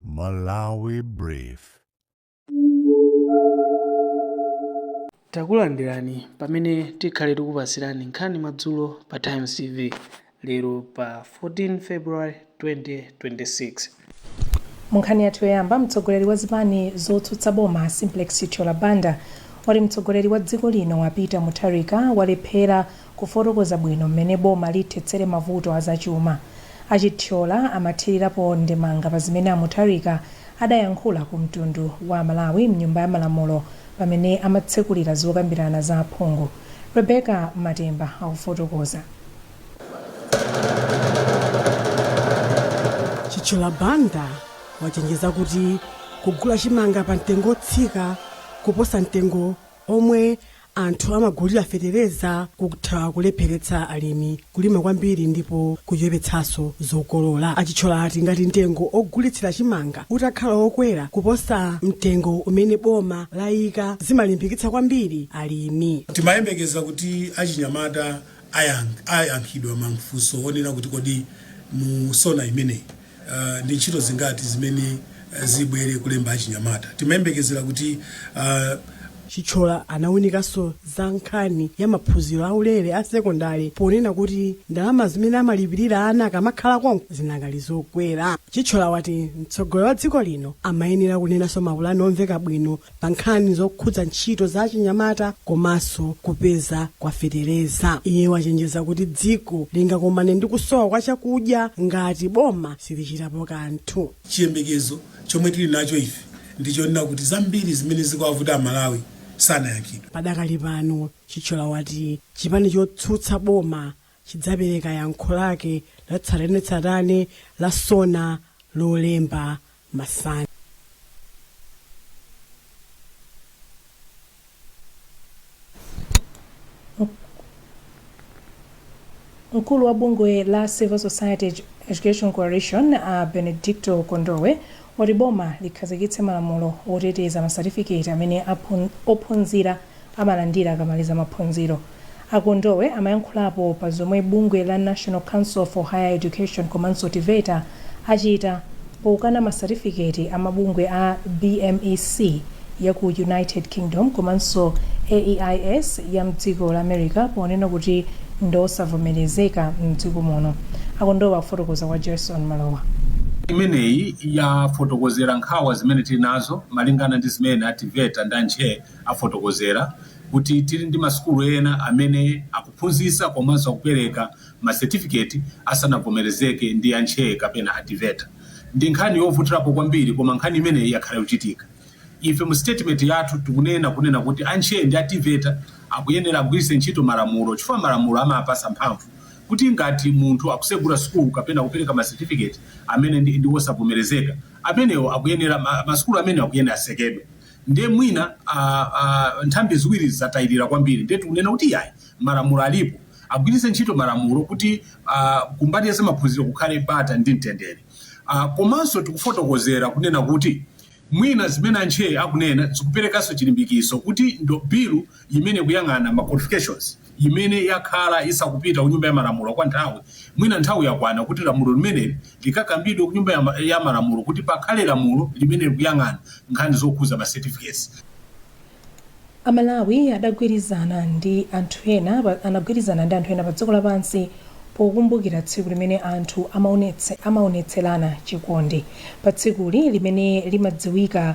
Malawi Brief. Takulandirani pamene tikhale tikupatsirani nkhani madzulo pa Times TV lero pa 14 February 2026. Munkhani yathu yoyamba, mtsogoleri wa zipani zotsutsa boma Simplex Chithyola Banda wati mtsogoleri wa dziko lino a Peter Mutharika walephera Kufotokoza bwino mmene boma lithetsere mavuto a zachuma, a Chithyola amathirirapo ndemanga pa zimene a Mutharika adayankhula ku mtundu wa Amalawi m'Nyumba ya Malamulo pamene amatsekulira zokambirana za aphungu. Rebecca Matemba akufotokoza. Chithyola Banda wachenjeza kuti kugula chimanga pa mtengo otsika kuposa mtengo omwe Anthu amagulira fetereza kutha kulepheretsa alimi kulima kwambiri ndipo kuchepetsanso zokolola. A Chithyola ati ngati mtengo ogulitsira chimanga utakhala okwera kuposa mtengo umene boma layika zimalimbikitsa kwambiri alimi. Timayembekeza kuti achinyamata ayankhidwa mafunso onena kuti kodi mu sona imeneyi Uh, ndi ntchito zingati zimene uh, zibwere kulemba achinyamata timayembekezera kuti uh, Chithyola anawunikanso za nkhani ya maphunziro aulere a sekondale ponena kuti ndalama zimene amalipirira ana akamakhala konko zinakali zokwera Chithyola wati mtsogoleri wa dziko lino amayenera kunenanso mapulani omveka bwino pa nkhani zokhudza ntchito za achinyamata komanso kupezeka kwa fetereza. Iye wachenjeza kuti dziko lingakomane ndi kusowa kwa chakudya ngati boma silichitapo kanthu. Chiyembekezo chomwe tili nacho ife ndi chonena kuti zambiri zimene zikuwavuta Amalawi sanayankhidwe. Padakali pano, Chithyola wati chipani chotsutsa boma chidzapereka yankho lake latsatanetsatane la SONA Lolemba masana. Mkulu wa bungwe la Civil Society Education Coalition a Benedicto Kondowe wati boma likhazikitse malamulo oteteza masatifiketi amene ophunzira amalandira akamaliza maphunziro. A Kondowe amayankhulapo pa zomwe bungwe la National Council for Higher Education komanso TEVETA achita pokana ma satifiketi a mabungwe a BMEC ya ku United Kingdom komanso AEIS ya mdziko la America ponena kuti ndiosavomerezeka mdziko muno. A Kondowe akufotokoza kwa Jarson Malowa. imeneyi yafotokozera nkhawa zimene tili nazo malingana ndi zimene a TEVETA ndi a NCHE afotokozera kuti tili ndi masukulu ena amene akuphunzitsa komanso akupereka ma certificate asanavomerezeke ndi a NCHE kapena a Teveta. Ndi nkhani yovutirapo kwambiri koma nkhani imeneyi yakhala ikuchitika. Ife mu statement yathu tikunena kunena kuti a NCHE ndi a Teveta akuyenera agwiritse ntchito malamulo chifukwa malamulo amawapatsa mphamvu kuti ngati munthu akusegula sukulu kapena kupereka ma certificate amene ndi ndi wosavomerezeka, amenewo akuyenera ma ma sukulu amenewo akuyenera atsekedwe. ndiye mwina a, a, nthambi ziwirizi zatayirira kwambiri ndiye tikunena kuti iyayi malamulo alipo agwiritse ntchito malamulo kuti a, kumbali ya zamaphunziro kukhale bata ndi mtendere a, komanso tikufotokozera kunena kuti mwina zimene a NCHE akunena zikuperekanso chilimbikitso kuti ndo bilu imene ikuyang'ana ma qualifications imene yakhala isakupita ku Nyumba ya Malamulo kwa nthawi, mwina nthawi yakwana kuti lamulo limeneli likakambidwe ku Nyumba ya ya Malamulo kuti pakhale lamulo limene likuyang'ana nkhani zokhudza ma certificates. Amalawi adagwirizana ndi anthu ena pa anagwirizana ndi anthu ena pa dziko lapansi pokumbukira tsiku limene anthu amaonetse amaonetserana chikondi. Pa tsikuli limene limadziwika.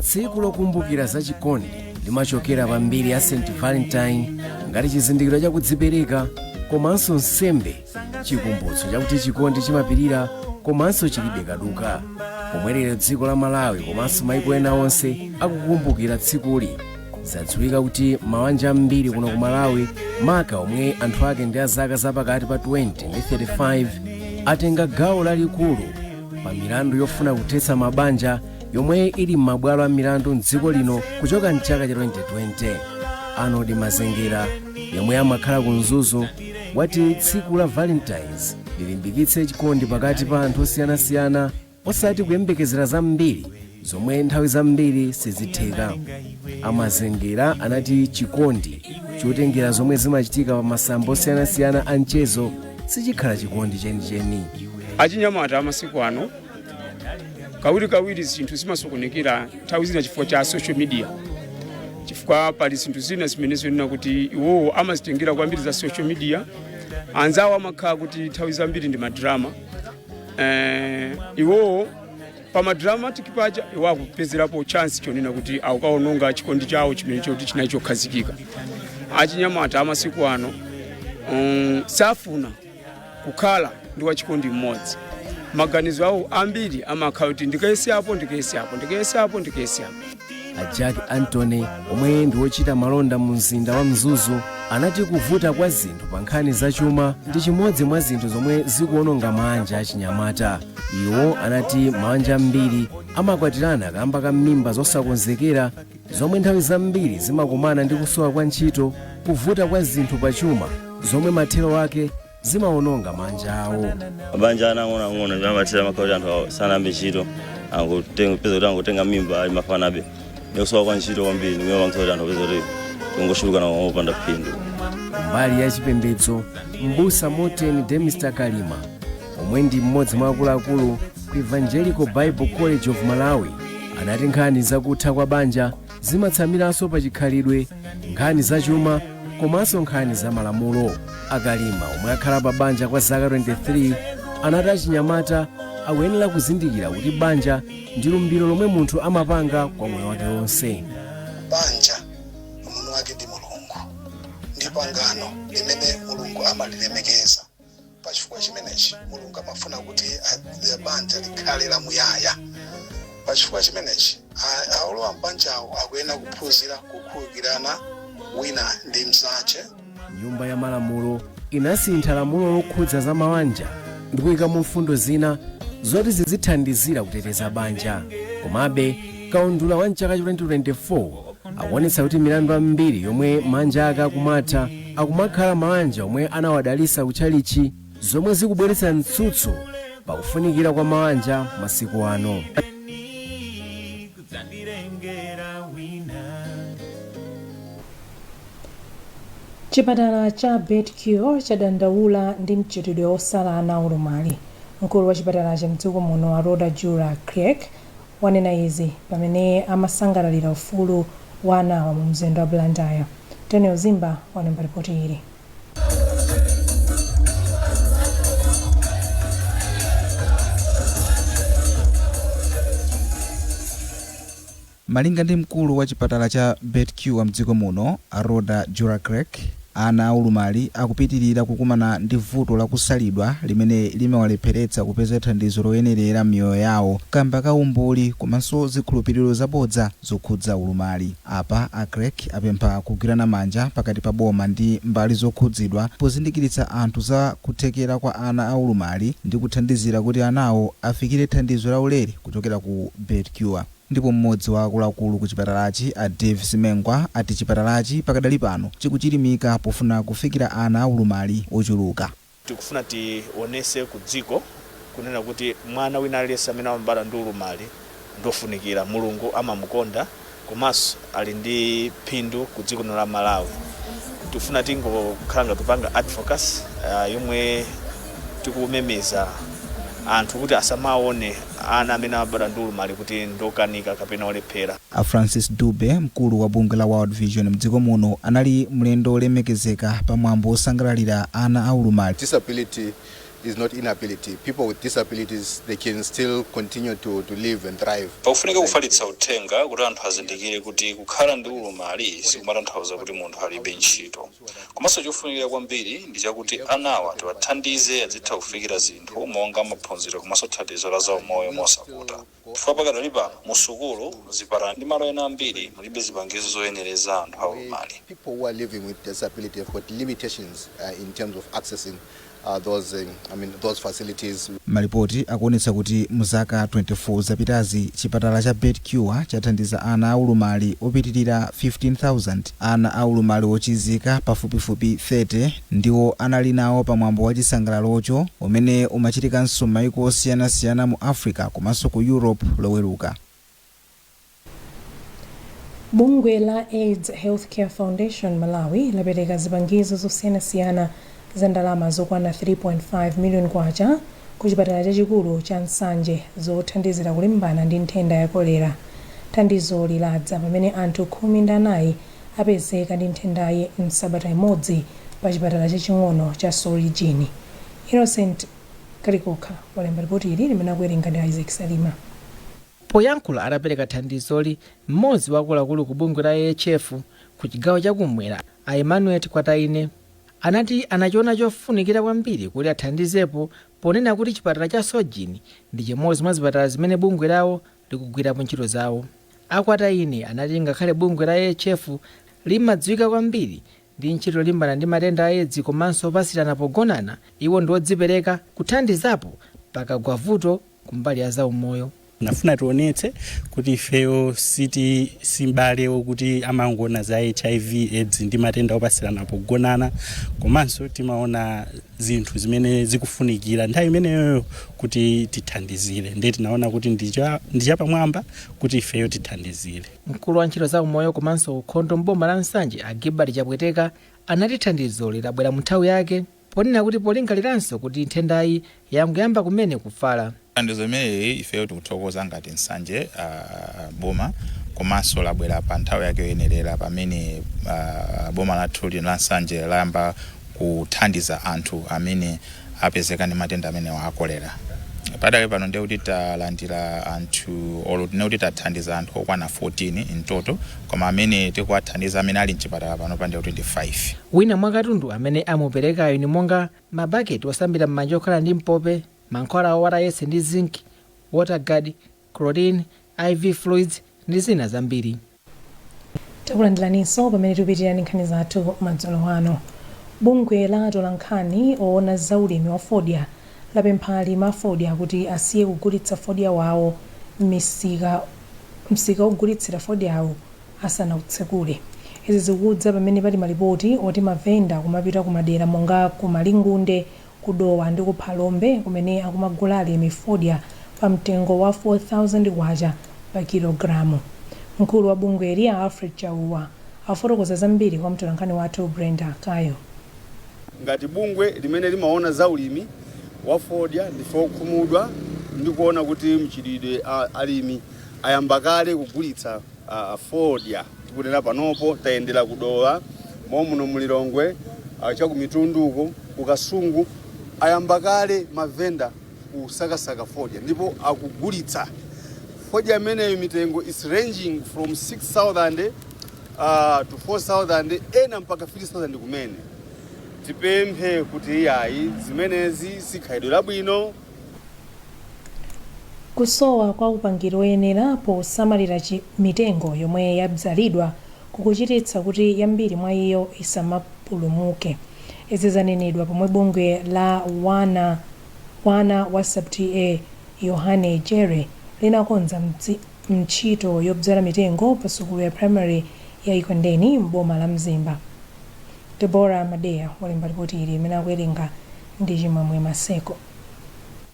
tsiku lokumbukira za chikondi limachokera pa mbiri ya st valentine ngati chizindikiro cha kudzipereka komanso nsembe chikumbutso chakuti chikondi chimapirira komanso chilibe kaduka pomwe lero dziko la malawi komanso maiko ena onse akukumbukira tsikuli zadziwika kuti mawanja ambiri kuno ku malawi maka omwe anthu ake ndi a zaka zapakati pa 20 ndi 35 atenga gawo lalikulu pa milandu yofuna kuthetsa mabanja yomwe ili m'mabwalo a milandu mdziko lino kuchoka mchaka cha 2020 arnold mazengera yomwe amakhala ku mzuzu wati tsiku la valentines lilimbikitse chikondi pakati pa anthu osiyanasiyana osati kuyembekezera zambiri zomwe nthawi zambiri sizitheka a mazengera anati chikondi chotengera zomwe zimachitika pa masamba osiyanasiyana a mchezo sichikhala chikondi chenicheni achinyamata amasiku ano kawirikawiri zinthu zimasokonekera nthawi zina chifukwa cha social media chifukwa pali zinthu zina zimene zonena kuti iwowo amazitengera kwambiri za social media anzawo amakhala kuti nthawi zambiri ndi madrama eh, iwowo pa madramatic paja iwo akupezerapo chance chonena kuti akukaononga chikondi chawo chimene choti chinali chokhazikika achinyamata amasiku ano um, safuna kukhala ndi wachikondi mmodzi maganizo awo ambiri amakhala kuti ndikayese apo ndikayese apo ndikayese apo ndikayese apo a jack antony omwe ndi wochita malonda mu mzinda wa mzuzu anati kuvuta kwa zinthu pa nkhani za chuma ndi chimodzi mwa zinthu zomwe zikuononga maanja achinyamata iwo anati maanja ambiri amakwatirana kaamba ka mimba zosakonzekera zomwe nthawi zambiri zimakumana ndi kusowa kwa ntchito kuvuta kwa zinthu pa chuma zomwe mathero ake zimawononga maanja awo mabanja ang'onoang'ono amathera makhala kuti anthu awo sanayambe ntchito angotenga peza kuti angotenga mimba ali mafanabe ndikusowa kwa ntchito kwambiri ndimene imapangitsa kuti anthu apeza kuti kungochulukana opanda phindu mbali ya chipembedzo mbusa morten demister kalima omwe ndi mmodzi mwa akuluakulu ku evangelical bible college of malawi anati nkhani zakutha kwa banja zimatsamiranso pa chikhalidwe nkhani zachuma komanso nkhani za malamulo a kalima omwe akhala pa banja kwa zaka 23 anati achinyamata akuyenera kuzindikira kuti banja ndi lumbiro lomwe munthu amapanga kwa moyo wake wonse banja mwini wake ndi mulungu ndi pangano limene mulungu amalilemekeza pa chifukwa chimenechi mulungu amafuna kuti a- a- banja likhale lamuyaya pa chifukwa chimenechi a- aolowa m'banjawo akuyenera kuphunzira kukhululukirana wina ndi mnzache nyumba ya malamulo inasintha lamulo lokhudza za mawanja ndikuyikamo mfundo zina zoti zizithandizira kuteteza banja komabe Kaundula wa mchaka cha 2024 akuonetsa kuti milandu ambiri yomwe maanja ake akumatha akumakhala maanja omwe anawadalitsa ku tchalitchi zomwe zikubweretsa mtsutso pa kufunikira kwa maanja masiku ano. Chipatala cha Beit Cure chadandaula ndi mchitidwe osala ana aulumali. Mkulu wa chipatalachi mdziko muno a Rhoda Jura Kriek wanena izi pamene amasangalalira ufulu wa anawa mu mzinda wa Blantyre. Tonel Zimba walemba lipoti ili. Malinga ndi mkulu wa chipatala cha Beit Cure mdziko muno, a Rhoda Jura Kriek, Ana aulumali akupitirira kukumana ndi vuto la kusalidwa limene limawalepheretsa kupeza thandizo loyenerera m'miyoyo yawo kamba ka umbuli komanso zikhulupiriro zabodza zokhudza ulumali. Apa a Kriek apempha kugwirana manja pakati pa boma ndi mbali zokhudzidwa pozindikiritsa anthu za kuthekera kwa ana aulumali ndi kuthandizira kuti anawo afikire thandizo laulere kuchokera ku Beit Cure. Ndipo m'modzi wa akuluakulu ku chipatalachi a Davie Simengwa ati chipatalachi pakadali pano chikuchilimika pofuna kufikira ana aulumali ochuluka. Tikufuna tionese ku dziko kunena kuti mwana wina aliyense amene amabadwa ndi ulumali ndi ofunikira, Mulungu amamukonda komanso ali ndi phindu ku dziko lino la Malawi tifuna tingokhala ngati tikupanga advocacy uh, yomwe tikumemeza anthu kuti asamaone ana amene amabadwa ndi ulumali kuti ndokanika kapena olephera A Francis Dube, mkulu wa bungwe la World Vision mdziko muno, anali mlendo wolemekezeka pa mwambo wosangalalira ana a ulumali. disability is not inability. People with disabilities, they can still continue to, to live and thrive. Pakufunika like kufalitsa uh, uthenga kuti anthu azindikire kuti kukhala ndi ulumali sikumatanthauza kuti munthu alibe ntchito. Komanso chofunikira kwambiri ndi chakuti anawa tiwathandize azitha kufikira zinthu monga maphunziro komanso thandizo la zaumoyo mosavuta. chifukwa pakadali pano mu sukulu, zipatala ndi malo ena ambiri mulibe zipangizo zoyenereza anthu a ulumali. Malipoti akuonetsa kuti mu zaka 24 zapitazi, chipatala cha Beit Cure chathandiza ana a ulumali opitilira 15,000. Ana a ulumali ochizika pafupifupi 30 Ndiwo anali nawo pa mwambo wa chisangalalocho, umene umachitikanso m'mayiko osiyanasiyana mu Africa komanso ku Europe, Loweruka. Bungwe la AIDS Healthcare Foundation Malawi lapereka zipangizo zosiyanasiyana za ndalama zokwana 3.5 million kwacha ku chipatala chachikulu cha Nsanje zothandizira kulimbana ndi nthenda ya kolera. Thandizoli ladza pamene anthu khumi ndi anayi apezeka ndi nthendayi m'sabata imodzi pa chipatala chaching'ono cha Sorgin. Innocent Kalikokha walemba lipoti ili limene akuwerenga ndi Isaac Salima. Poyankhula atapereka thandizoli, m'modzi wa akuluakulu ku bungwe la AHF ku chigawo cha kummwera a Emmanuel Kwataine anati anachiona chofunikira kwambiri kuti athandizepo ponena kuti chipatala cha Sorgin ndi chimodzi mwa zipatala zimene bungwe lawo likugwirapo ntchito zawo. A Kwataine anati ngakhale bungwe la AHF limadziwika kwambiri ndi ntchito yolimbana ndi matenda a Edzi komanso opatsirana pogonana, iwo ndi odzipereka kuthandizapo pakagwa vuto kumbali ya zaumoyo. Tinafuna tionetse kuti ifeyo siti si m'bale wokuti amangoona za HIV, Edzi ndi matenda opatsirana pogonana komanso timaona zinthu zimene zikufunikira nthawi imeneyoyo kuti tithandizire ndiye tinaona kuti ndi cha- ndi chapamwamba kuti ifeyo tithandizire mkulu wa ntchito za umoyo komanso ukhondo m'boma la Nsanje a Gilbert Chapweteka anati thandizoli labwera mu nthawi yake ponena kuti polingaliranso kuti nthendayi yangoyamba kumene kufala Thandizo limeneli ifeyo tikuthokoza ngati Nsanje Boma komanso labwera pa nthawi yake yoyenerera pamene boma lathu lino la Nsanje layamba kuthandiza anthu amene apezeka ndi matenda amenewa a kolera. Padakali pano ndiye kuti talandira anthu olo tinene kuti tathandiza anthu okwana 14 in total koma amene tikuwathandiza amene ali m'chipatala panopa ndiye kuti ndi 5. Wina mwa katundu amene amuperekayu ndi monga mabaketi osambira m'manja okhala ndi mpope, Mankhwala a ORS ndi Zinc, Waterguard, Chlorine, IV fluids ndi zina zambiri. Takulandiraninso pamene tikupitirira ndi nkhani zathu madzulo ano. Bungwe la atolankhani owona za ulimi wa fodya lapempha alimi a fodya kuti asiye kugulitsa fodya wawo msika ogulitsira fodyawu asanawutsekule. Izi zikudza pamene pali malipoti oti mavenda akumapita ku madera monga ku Malingunde ku Dowa ndi ku Phalombe kumene akumagula alimi fodya pa mtengo wa K4,000 pa kilogalamu. Mkulu wa bungweli a Alfred Chauwa afotokoza zambiri kwa mtolankhani wathu Brenda Kayo. Ngati bungwe limene limaona za ulimi wa fodya ndife okhumudwa ndi kuona kuti mchitidwe alimi ayamba kale kugulitsa fodya tikunena panopo tayendera ku dowa muno mu lilongwe ah, cha ku mitundu uko ku kasungu ayamba kale mavenda kusakasaka fodya ndipo akugulitsa fodya ameneyo mitengo is ranging from 6000 uh, to 4000 ena mpaka 3000 kumene tipemphe kuti iyayi zimenezi sikhalidwe labwino Kusowa kwa upangiri woyenera posamalira mitengo yomwe yabzalidwa kukuchititsa kuti yambiri mwa iyo isamapulumuke. Izi zanenedwa pomwe bungwe la wana wa Sub TA Yohane Jere linakonza ntchito yobzala mitengo pa sukulu ya primary ya Ekwendeni m'boma la Mzimba. Deborah Madeya walemba lipoti ili limene akuwerenga ndi Chimwemwe Maseko.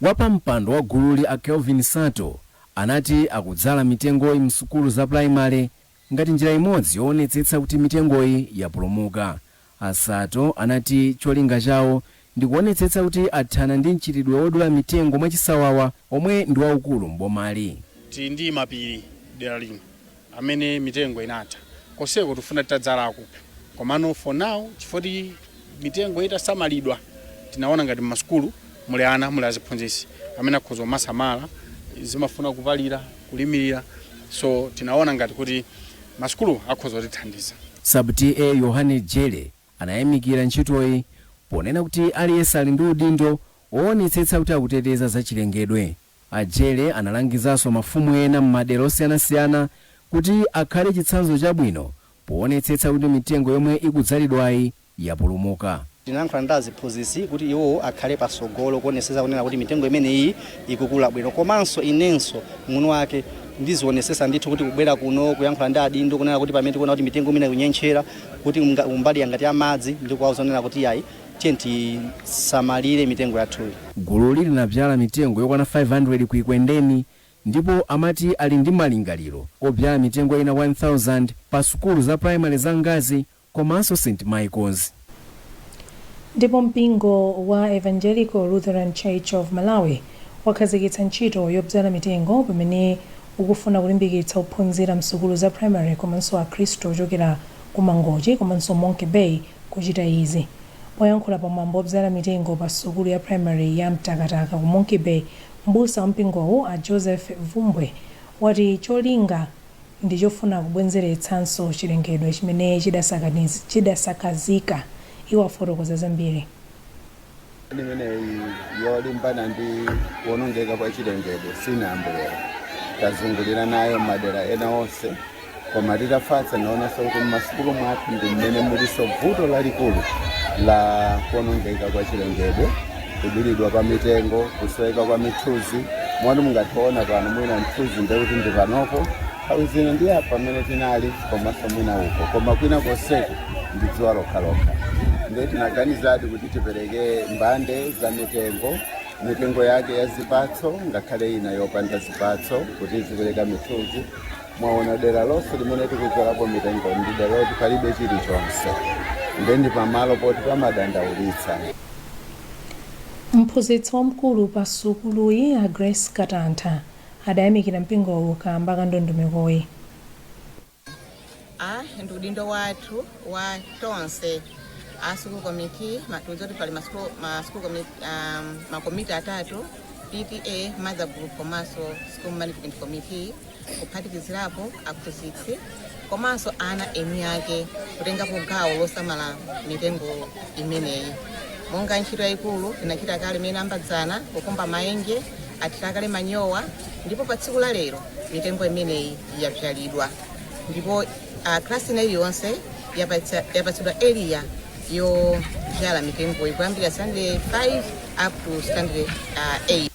Wapampando wa gululi a Kelvin Sato anati akudzala mitengoyi msukulu za pulayimale ngati njira imodzi yowonetsetsa kuti mitengoyi yapulumuka. A Sato anati cholinga chawo ndi kuwonetsetsa kuti athana ndi mchitidwe wodula mitengo mwachisawawa omwe ndi waukulu m'bomali. Tili ndi mapiri dera lino amene mitengo inatha koseko tifuna titadzalako komano for now chifoti mitengo itasamalidwa tinaona ngati mmasukulu muli ana muli aziphunzitsi amene akhoza kumasamala zimafuna kupalira kulimirira so tinaona ngati kuti masukulu akhoza kutithandiza Sub TA Yohane Jere anayamikira ntchitoyi ponena kuti aliyense ali ndi udindo woonetsetsa kuti akuteteza zachilengedwe. A Jere analangizanso mafumu ena m'madera osiyanasiyana kuti akhale chitsanzo chabwino poonetsetsa kuti mitengo yomwe ikudzalidwayi yapulumuka. Tinayankhula ndi aziphunzitsi kuti iwowo akhale patsogolo kuonetsetsa kunena kuti mitengo imeneyiyi ikukula bwino komanso inenso mwini wake ndizionetsetsa ndithu kuti kubwera kuno, kuyankhula ndi adindo kunena kuti pamene tikuona kuti mitengo mwina ikunyentchera kuti kumbali ya ngati ya madzi ndi kuwauza kunena kuti iyayi, tiyeni tisamalire mitengo yathuyi. Gululi linabzala mitengo yokwana 500 ku Ikwendeni ndipo amati ali ndi malingaliro obzala mitengo ina 1000 pa sukulu za primary za Ngazi komaso St Michaels. Ndipo mpingo wa Evangelical Lutheran Church of Malawi wakhazikitsa ntchito yobzala mitengo pamene ukufuna kulimbikitsa ophunzira msukulu za primary komanso akhristu ochokera ku Mangochi komanso Monkey Bay kuchita izi. Poyankhula pa mwambo wobzala mitengo pa sukulu ya primary ya Mtakataka ku Monkey Bay, m'busa wa mpingowu a Joseph Bvumbwe wati cholinga ndi chofuna kubwenzeretsanso chilengedwe chimene chidasakazika. Iwo afotokoza zambiri. imeneyi yolimbana ndi kuonongeka kwa chilengedwe sinayambe lero tazungulira nayo madera ena onse koma titafatsa naonanso kuti mmasukulu mwathu ndi mmene mulinso vuto lalikulu la kuonongeka kwa chilengedwe kudulidwa kwa mitengo kusoweka kwa mithuzi moti mungathe kuona pano mwina mthuzi ndekuti ndi panopo Nthawi zina ndi apa mmene tinali komanso mwina uko, koma kwina konseku ndi dzuwa lokhalokha. Ndiye tinaganizadi kuti tipereke mbande za mitengo, mitengo yake ya zipatso ngakhale ina yopanda zipatso kuti izipereka mithuzi. Mwaona dera lonse limene tikudzalapo mitengo ndi dera loti palibe chilichonse, ndiye ndi pamalo poti pamadandaulitsa. Mphunzitsi wamkulu pa sukuluyi a Grace Katantha adayamikira mpingowu kaamba ka ndondomekoyi. Ndi udindo wathu wa tonse a School Committee, ma- tikudziwa kuti pali ma school- ma school commi- ah, ma komiti atatu, PTA, Mother Group komanso School Management Committee, kuphatikizirapo aphunzitsi komanso ana eni ake kutengapo gawo losamala mitengo imeneyi monga ntchito yayikulu inachitika kale imene ambadzana kukumba mayenje athira kale manyowa ndipo pa tsiku la lero mitengo imeneyi yabzalidwa ndipo uh, klasi ina iliyonse yapatsa- yapatsidwa area yobzala mitengo kuyambira standard 5 up to standard uh, 8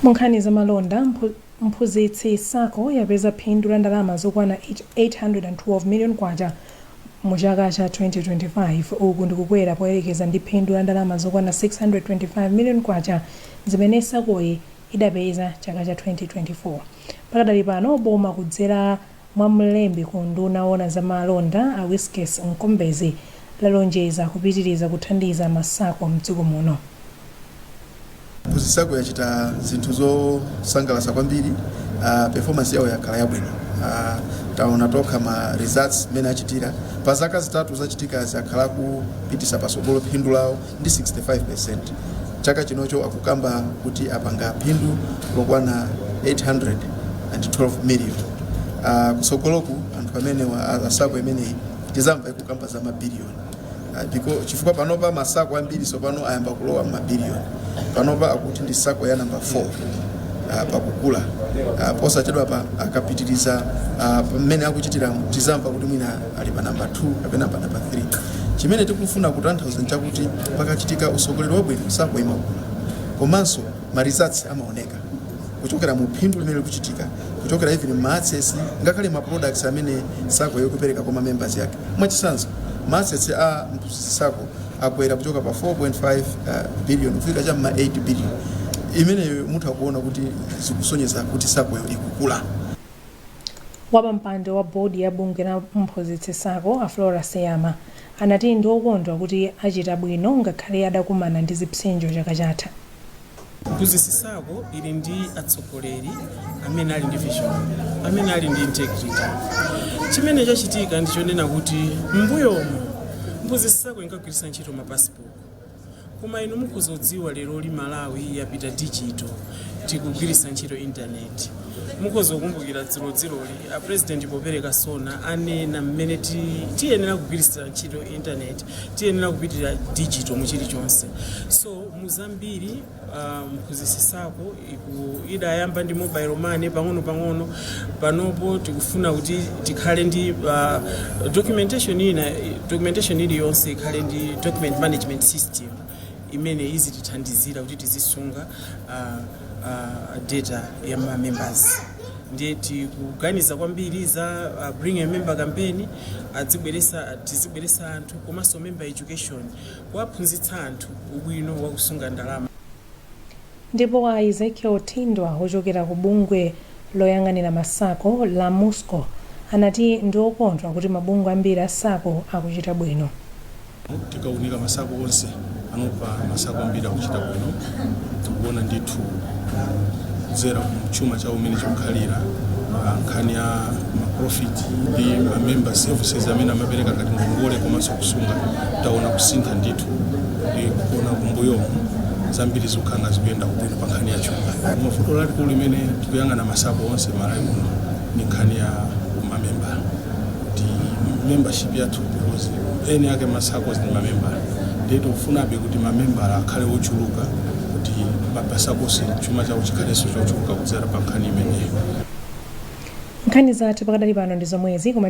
munkhani za malonda mphu- Mphunzitsi Sacco yapeza phindu la ndalama zokwana K812 million mu chaka cha 2025, uku ndi kukwera poyerekeza ndi phindu la ndalama zokwana K625 million zimene Sacco-yi idapeza chaka cha 2024. Pakadali pano, boma kudzera. mwa mlembi ku unduna owona za malonda a Wiskes Mkombezi lalonjeza kupitiriza kuthandiza ma sacco m'dziko muno. Mphunzitsi Sacco yachita zinthu zosangalatsa kwambiri uh, performance yawo yakhala yabwino uh, taona tokha ma results mmene achitira pa zaka zitatu zapitazi akhala akupititsa patsogolo phindu lawo ndi 65% chaka chinocho akukamba kuti apanga phindu lokwana 812 million uh, kusogoloku anthu amenewa a- a sako imeneyi tizamva ikukamba za mabiliyoni Ah, biko- chifukwa panopa masako ambiri sopano ayamba kulowa mabiliyoni panopa akuti ndi sako ya namba 4 ah, pakukula Ah, posachedwapa akapitiriza ah, mmene akuchitira tizamva kuti mwina ali pa namba 2 kapena pa namba 3 chimene tikufuna kutanthauza nchakuti pakachitika usogoleri wabwino sako imakula komanso ma results amaoneka kuchokera mu phindu limene likuchitika kuchokera even ma assets ngakhale ma products amene sakoyo ikupereka kwa ma members yake mwachisanzo ma assets a mphunzitsi sako akwera kuchoka pa 4.5 uh, billion kufika cha ma 8 billion imeneyo mutha kuona kuti zikusonyeza kuti sakoyo ikukula Wapampando wa board ya bungwe la mphunzitsi sacco a Flora Seyama anati ndi okondwa kuti achita bwino ngakhale adakumana ndi zipsinjo chaka chatha. Mphunzitsi sacco ili ndi atsogoleri amene ali ndi vision, amene ali ndi integrity. Chimene chachitika ndi chonena kuti m'mbuyomu mphunzitsi sacco inkagwiritsa ntchito ma passbook Koma inu mukhoza kudziwa leroli Malawi yapita dijito, tikugwiritsa ntchito intaneti. Mukhoza kukumbukira dzulodzuloli a president popereka SONA anena mmene ti- tiyenera kugwiritsira ntchito intaneti, tiyenera kupitira dijito mu chilichonse. So mu zambiri Ah, mphunzitsi sako iku- idayamba ndi mobile money pang'ono pang'ono panopo tikufuna kuti tikhale ndi ah, documentation ina documentation iliyonse ikhale ndi document management system imene izitithandizira kuti tizisunga ah, ah, data ya ma members ndiye tikuganiza kwambiri za uh, bring a member campaign adzibweresa tizibweresa anthu komanso member education kuwaphunzitsa anthu ubwino wa kusunga ndalama. Ndipo a Ezekiel Thindwa ochokera ku bungwe loyang'anira ma sacco la Muscco anati ndi okondwa kuti mabungwe ambiri a sacco akuchita bwino. Tikaunika ma sacco onse panopa ma sacco ambiri akuchita bwino tikuona ndithu kudzera ku chuma chawo umene chikukhalira ah, nkhani ya maprofiti ndi mamember services amene amapereka ngati ngongole komanso kusunga taona kusintha ndithu ndi kuona kumbuyomu zambiri zikukhala zikuyenda bwino pa nkhani ya chuma koma vuto lalikulu limene tikuyang'ana masako onse malawi muno ndi nkhani ya mamemba ndi membership yathu because eni ake masako ndi mamemba ndiye tikufunabe kuti mamembala akhale ochuluka kuti masako onse chuma chawo chikhalenso chochuluka kudzera pa nkhani imeneyo nkhani zathu pakadali pano ndi zomwezi koma